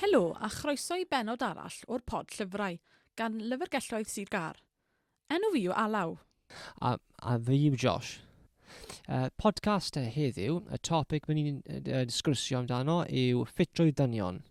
Helo a chroeso i bennod arall o'r pod llyfrau gan Lyfrgelloedd Sir Gâr. Enw fi yw Alaw. A, a fi yw Josh. Uh, podcast heddiw, y topic mynd i'n uh, disgrysio amdano yw ffitrwydd dynion.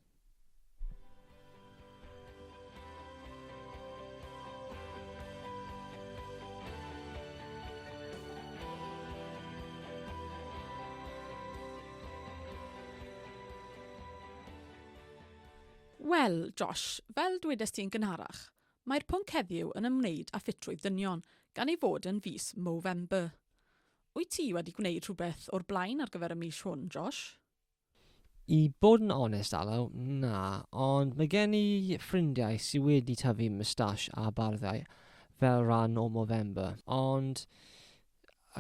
Wel, Josh, fel dwedais ti'n gynharach, Mae'r pwnc heddiw yn ymwneud â ffitrwydd dynion, gan ei fod yn fis Movember. Wyt ti wedi gwneud rhywbeth o'r blaen ar gyfer y mis hwn, Josh? I bod yn onest, Alaw, na, ond mae gen i ffrindiau sydd wedi tyfu mwstash a barddau fel rhan o Movember, ond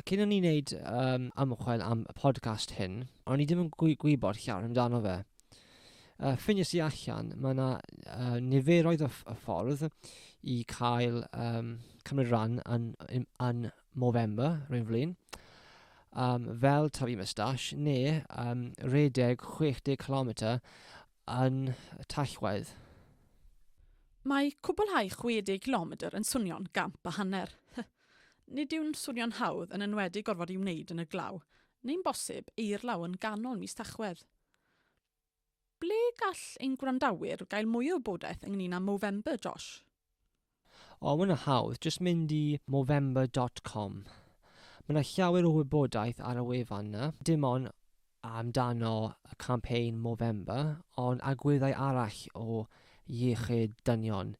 Cyn i ni wneud yym ymchwil am y podcast hyn, o'n i ddim yn gwy- gwybod llawer amdano fe. Yy, ffiniais i allan, mae yna uh, niferoedd o, o ffordd i cael um, cymryd rhan yn, yn, yn Movember, rwy'n flin, um, fel tyfu mustache, neu um, redeg 60 km yn tachwedd. Mae cwblhau 60 km yn swnio'n gamp a hanner. Nid yw'n swnio'n hawdd, yn enwedig gorfod ei wneud yn y glaw, neu'n bosib, eirlaw yn ganol mis Tachwedd. Ble gall ein gwrandawyr gael mwy o wybodaeth ynglŷn â Movember, Josh? O, mae hwnna'n hawdd, jyst mynd i Movember dot com. Mae 'na llawer o wybodaeth ar y wefan 'na, dim ond amdano y campaign Movember, ond agweddau arall o iechyd dynion,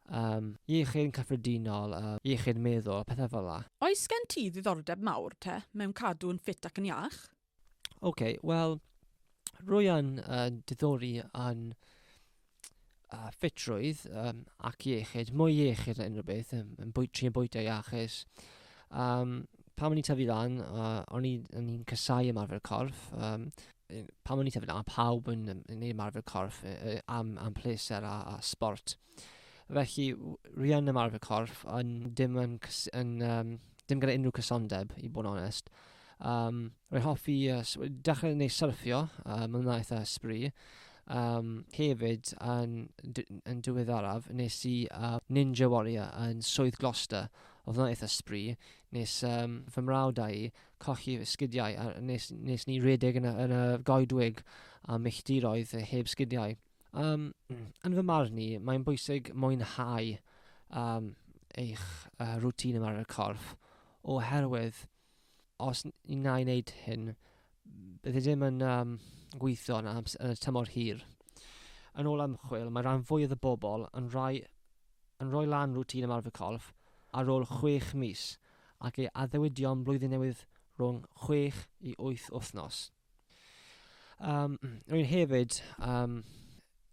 um, iechyd yn cyffredinol, uh, iechyd meddwl, pethau fel la. Oes gen ti ddiddordeb mawr, te, mewn cadw yn ffit ac yn iach? OK, wel, rwy'n uh, diddori yn uh, ffitrwydd um, ac iechyd, mwy iechyd na unrhyw beth, yn, yn bwy, trin bwyta iachus. Um, pan o'n i'n tyfu lan, uh, o'n i'n casau ymarfer corff. Um, pan o'n i'n tyfu lan, pawb yn, yn, yn ymarfer corff uh, am, am pleser a, a sport. Felly, rhian ymarfer corff, yn, dim, yn, yn, um, dim gyda unrhyw cysondeb, i bod yn onest. Um, Rwy'n hoffi uh, dechrau neu syrffio, uh, mae'n dda eitha ysbri. Um, hefyd, yn, yn diweddaraf, nes i uh, Ninja Warrior yn Swydd Gloucester. Oedd yna eitha sbri. Nes um, fy mrawd a'i cochi sgidiau, a nes, nes ni redeg yn y, yn y goedwig a milltiroedd heb sgidiau. Um, yn fy marn ni, mae'n bwysig mwynhau um, eich uh, rŵtîn yma ar y corff, oherwydd Os ni wna i wneud hyn, bydd e ddim yn um, gweithio yn, ams- yn y tymor hir. Yn ôl ymchwil, mae rhan fwyaf y bobl yn rhoi, yn rhoi lan rwtîn ymarfer corff ar ôl 6 mis ac ei addewidion blwyddyn newydd rhwng 6 i 8 wythnos. Yym, rwy'n hefyd yym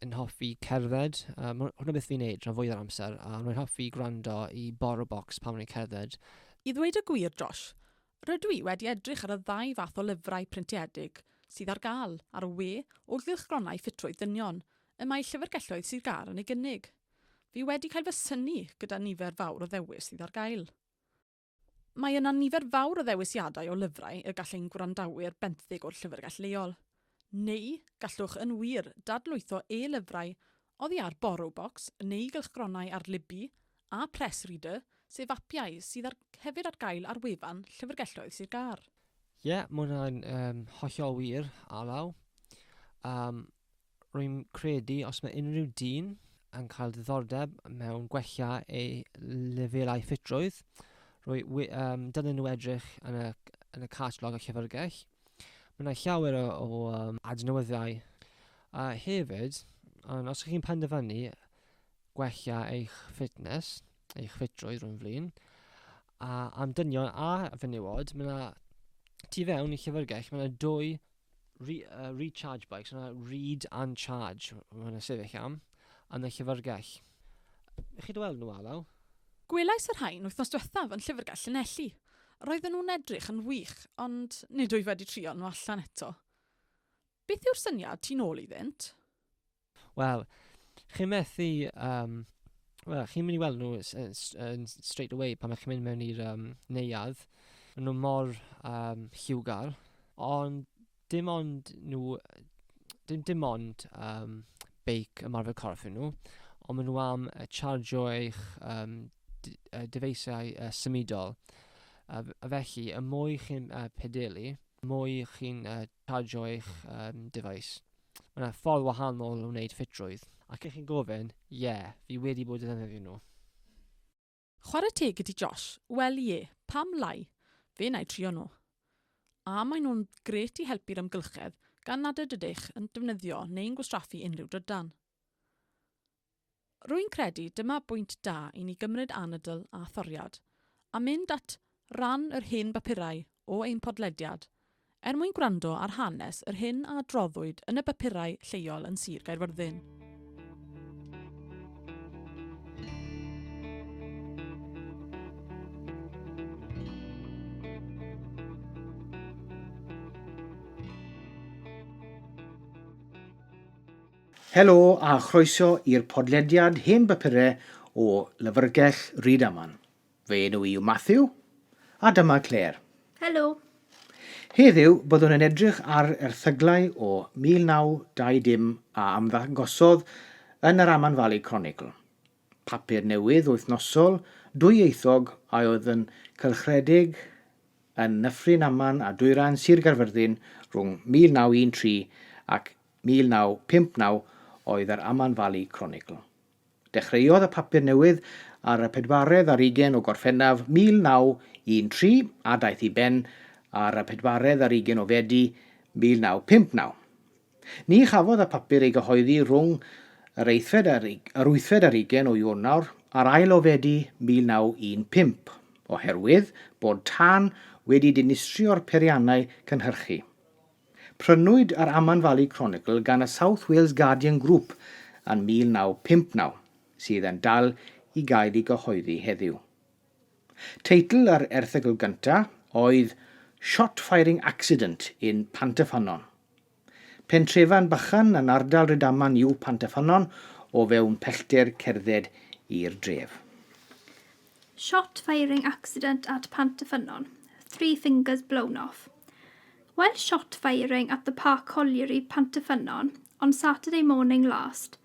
yn hoffi cerdded. Yy, ma' hwnna beth fi'n wneud rhan fwya o'r amser, a rwy'n hoffi gwrando i BoroBox pan rwy'n cerdded. I ddweud y gwir, Josh, rydw i wedi edrych ar y ddau fath o lyfrau printiedig sydd ar gael ar y we o gylchgronau ffitrwydd dynion y mae Llyfrgelloedd Sir Gâr yn ei gynnig. Fi wedi cael fy synnu gyda nifer fawr o ddewis sydd ar gael. Mae yna nifer fawr o ddewisiadau o lyfrau y gall ein gwrandawyr benthyg o'r llyfrgell leol. Neu, gallwch yn wir dadlwytho e-lyfrau oddi ar Borrowbox neu gylchgronau ar Libby a Press Reader, sef apiau sydd ar, hefyd ar gael ar wefan Llyfrgelloedd Sir Gâr. Ie, mae hwnna'n um, hollol wir, Alaw. Um, rwy'n credu os mae unrhyw dyn yn cael diddordeb mewn gwella ei lefelau ffitrwydd, rwy, wy, um, dylen nhw edrych yn y, yn y catalog y llyfrgell. Mae yna llawer o, o um, adnewyddiau. A hefyd, ond os ydych chi'n penderfynu gwella eich fitness, eich ffitrwydd rhwng flin, a am dynion a fenywod, mae yna tu fewn i llyfrgell, mae yna dwy Re, uh, recharge bike, so yna read and charge, mae hwnna'n sefyll am, yn y llyfrgell. Chi dy weld nhw, Alaw? Gwelais y rhain wythnos diwethaf yn llyfrgell Llanelli. Roedden nhw'n edrych yn wych, ond nid wyf wedi trial nhw allan eto. Beth yw'r syniad ti'n ôl iddynt? Wel, chi'n methu yym... wel, chi'n mynd i weld nhw s- yy s- yn s- straight away pan dych chi'n mynd mewn i'r yym neuadd. Maen nhw mor yym lliwgar. Ond dim ond nhw yy d- dim ond yym beic ymarfer corff yw nhw, ond maen nhw am yy charjio eich yym d- yy dyfeisiau yy symudol. A f- a felly, y mwy chi'n yy pedelu, y mwy chi'n yy charjio eich yym dyfais. Mae yna ffordd wahanol o wneud ffitrwydd. Ac ych chi'n gofyn, ie, fi wedi bod yn ddefnyddio nhw. Chwarae teg i ti Josh, wel ie, pam lai, fe wna i trio nhw. A maen nhw'n grêt i helpu'r amgylchedd gan nad ydych yn defnyddio neu'n gwastraffu unrhyw drydan. Rwy'n credu dyma bwynt da i ni gymryd anadl a thoriad, a mynd at ran yr hen bapurau o ein podlediad, er mwyn gwrando ar hanes yr hyn a adroddwyd yn y bapurau lleol yn Sir Gaerfyrddin. Helo a chroeso i'r podlediad Hen Bapurau o Lyfrgell Rydaman. Fy enw i yw Matthew, a dyma Claire. Helo! Heddiw, byddwn yn edrych ar erthyglau o 1920 a ymddangosodd yn yr Aman Valley Chronicle. Papur newydd wythnosol dwyieithog a oedd yn cylchredeg yn Nyffryn Aman a Dwyrain Sir Gaerfyrddin rhwng 1913 ac 1959 oedd yr Aman Valley Chronicle. Dechreuodd y papur newydd ar y pedwaredd ar ugain o Gorffennaf 1913 a daeth i ben ar y pedwaredd ar ugain o Fedi 1959. Ni chafodd y papur ei gyhoeddi rhwng yr eithfed a'r yr wythfed ar ugain o Ionawr ar ail o Fedi 1915, oherwydd bod tân wedi dinistrio'r periannau cynhyrchu. Prynwyd yr Aman Valley Chronicle gan y South Wales Guardian Group yn 1959, sydd yn dal i gael ei gyhoeddi heddiw. Teitl yr erthygl gyntaf oedd Shot Firing Accident in Pantyffynnon. Pentrefan bychan yn ardal Rydaman yw Pantyffynnon o fewn pellter cerdded i'r dref. Shot firing accident at Pantyffynnon, three fingers blown off. While shot firing at the Park Colliery, Pantyffynnon, on Saturday morning last,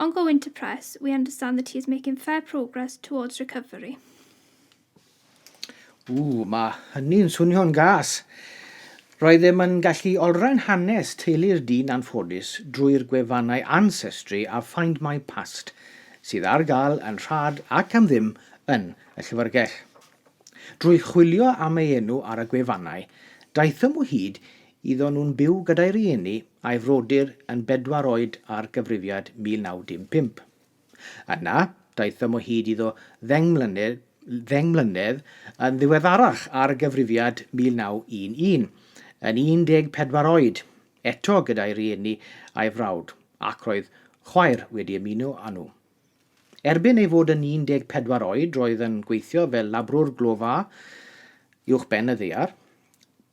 On going to press, we understand that he is making fair progress towards recovery. Ww, mae hynny'n swnio'n gas. Roedd ddim yn gallu olrhain hanes teulu'r dyn anffodus drwy'r gwefannau Ancestry a Find My Past, sydd ar gael yn rhad ac am ddim yn y llyfrgell. Drwy chwilio am ei enw ar y gwefannau, daethom o hyd Oedden nhw'n byw gyda'i rieni a'i frodyr yn bedwar oed ar gyfrifiad 1955. Yna, daethom o hyd iddo ddeng mlynedd, ddeng mlynedd yn ddiweddarach ar gyfrifiad 1911, yn 14 oed, eto gyda'i rieni a'i frawd, ac roedd chwaer wedi ymuno â nhw. Erbyn ei fod yn 14 oed roedd yn gweithio fel labrwr glofa uwch ben y ddaear.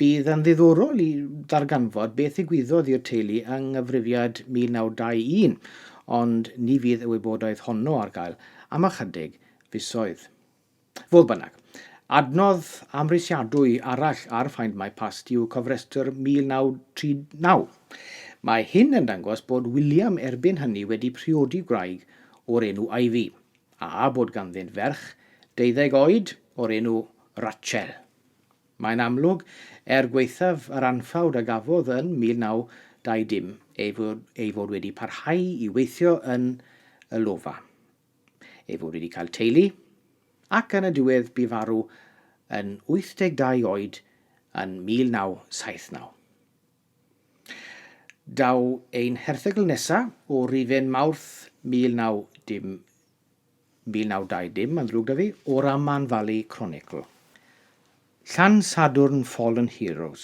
Bydd yn ddiddorol i ddarganfod beth ddigwyddodd i'r teulu yng nghyfrifiad 1921, ond ni fydd y wybodaeth honno ar gael am ychydig fisoedd. Fodd bynnag, adnodd amhrisiadwy arall ar Find My Past yw cofrestr 1939. Mae hyn yn dangos bod William erbyn hynny wedi priodi gwraig o'r enw Ivy, a bod ganddynt ferch deuddeg oed o'r enw Rachel. Mae'n amlwg, er gwaethaf yr anffawd a gafodd yn 1920 ei fod wedi parhau i weithio yn y lofa. ei fod wedi cael teulu, ac yn y diwedd bu farw yn 82 oed yn 1979. Daw ein herthygl nesaf o Rufen Mawrth 1920, mae'n ddrwg da fi, o'r Aman Valley Chronicle. Llan Sadwrn Fallen Heroes.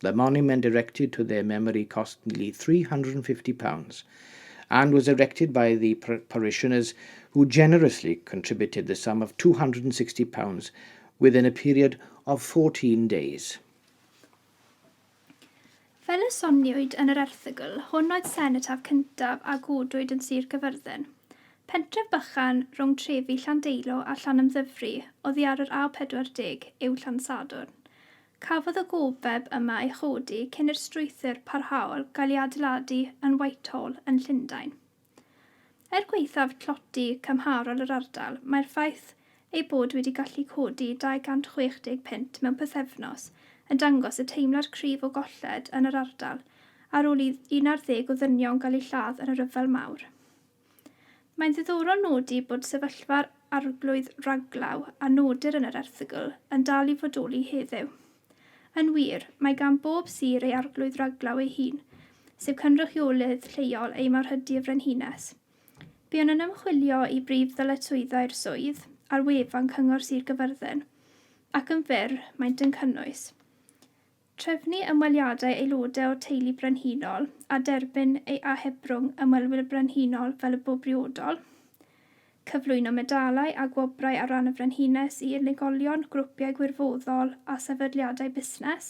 The monument erected to their memory cost nearly £350 and was erected by the parishioners who generously contributed the sum of £260 within a period of 14 days. Fel y soniwyd yn yr erthygl, hwn oedd senetaf cyntaf a godwyd yn Sir Gaerfyrddin. Pentref bychan rhwng trefi Llandeilo a Llanymddyfri oddi ar yr A40 yw Llansadwrn. Cafodd y gofeb yma ei chodi cyn i'r strwythur parhaol gael ei adeiladu yn Whitehall yn Llundain. Er gwaethaf tlodi cymharol yr ardal, mae'r ffaith eu bod wedi gallu codi 260 punt mewn pythefnos yn dangos y teimlad cryf o golled yn yr ardal ar ôl i un ar ddeg o ddynion gael eu lladd yn y Rhyfel Mawr. Mae'n ddiddorol nodi bod sefyllfa'r Arglwydd Raglaw a nodir yn yr erthygl yn dal i fodoli heddiw. Yn wir, mae gan bob sir ei Arglwydd Raglaw ei hun, sef cynrychiolydd lleol ei Marhydy y Frenhines. Buon yn ymchwilio i brif ddyletswyddau'r swydd ar wefan Cyngor Sir Gyfyrddin, ac yn fyr, maent yn cynnwys. Trefnu ymweliadau aelodau o'r teulu brenhinol a derbyn ei ahebrwng Ymwelwyr Brenhinol fel y bo briodol. Cyflwyno medalau a gwobrau ar ran y Frenhines i unigolion, grwpiau gwirfoddol a sefydliadau busnes.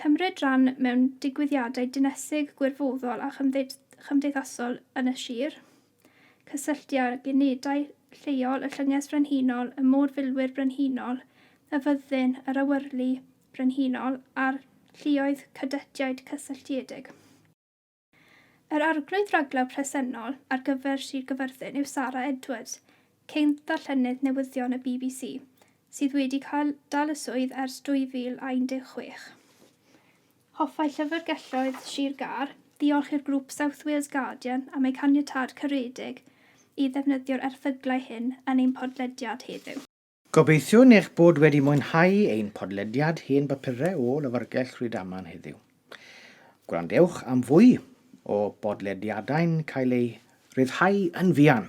Cymryd rhan mewn digwyddiadau dinesig, gwirfoddol a chymdeithasol yn y sir. cysylltu â'r unedau lleol, y Llynges Frenhinol, y Môr Filwyr Brenhinol, y Fyddin, yr Awyrlu Brenhinol a'r Lluoedd Cadetiaid Cysylltiedig. Yr arglwydd raglaw presennol ar gyfer Sir Gaerfyrddin yw Sara Edwards, cyn ddarllenydd newyddion y bbc, sydd wedi cael dal y swydd ers 2016. Hoffai Llyfrgelloedd Sir Gâr ddiolch i'r grŵp South Wales Guardian am eu caniatâd caredig i ddefnyddio'r erthyglau hyn yn ein podlediad heddiw. Gobeithiwn eich bod wedi mwynhau ein podlediad Hen Bapurau o Lyfrgell Rydaman heddiw. Gwrandewch am fwy o bodlediadau'n cael eu rhyddhau yn fuan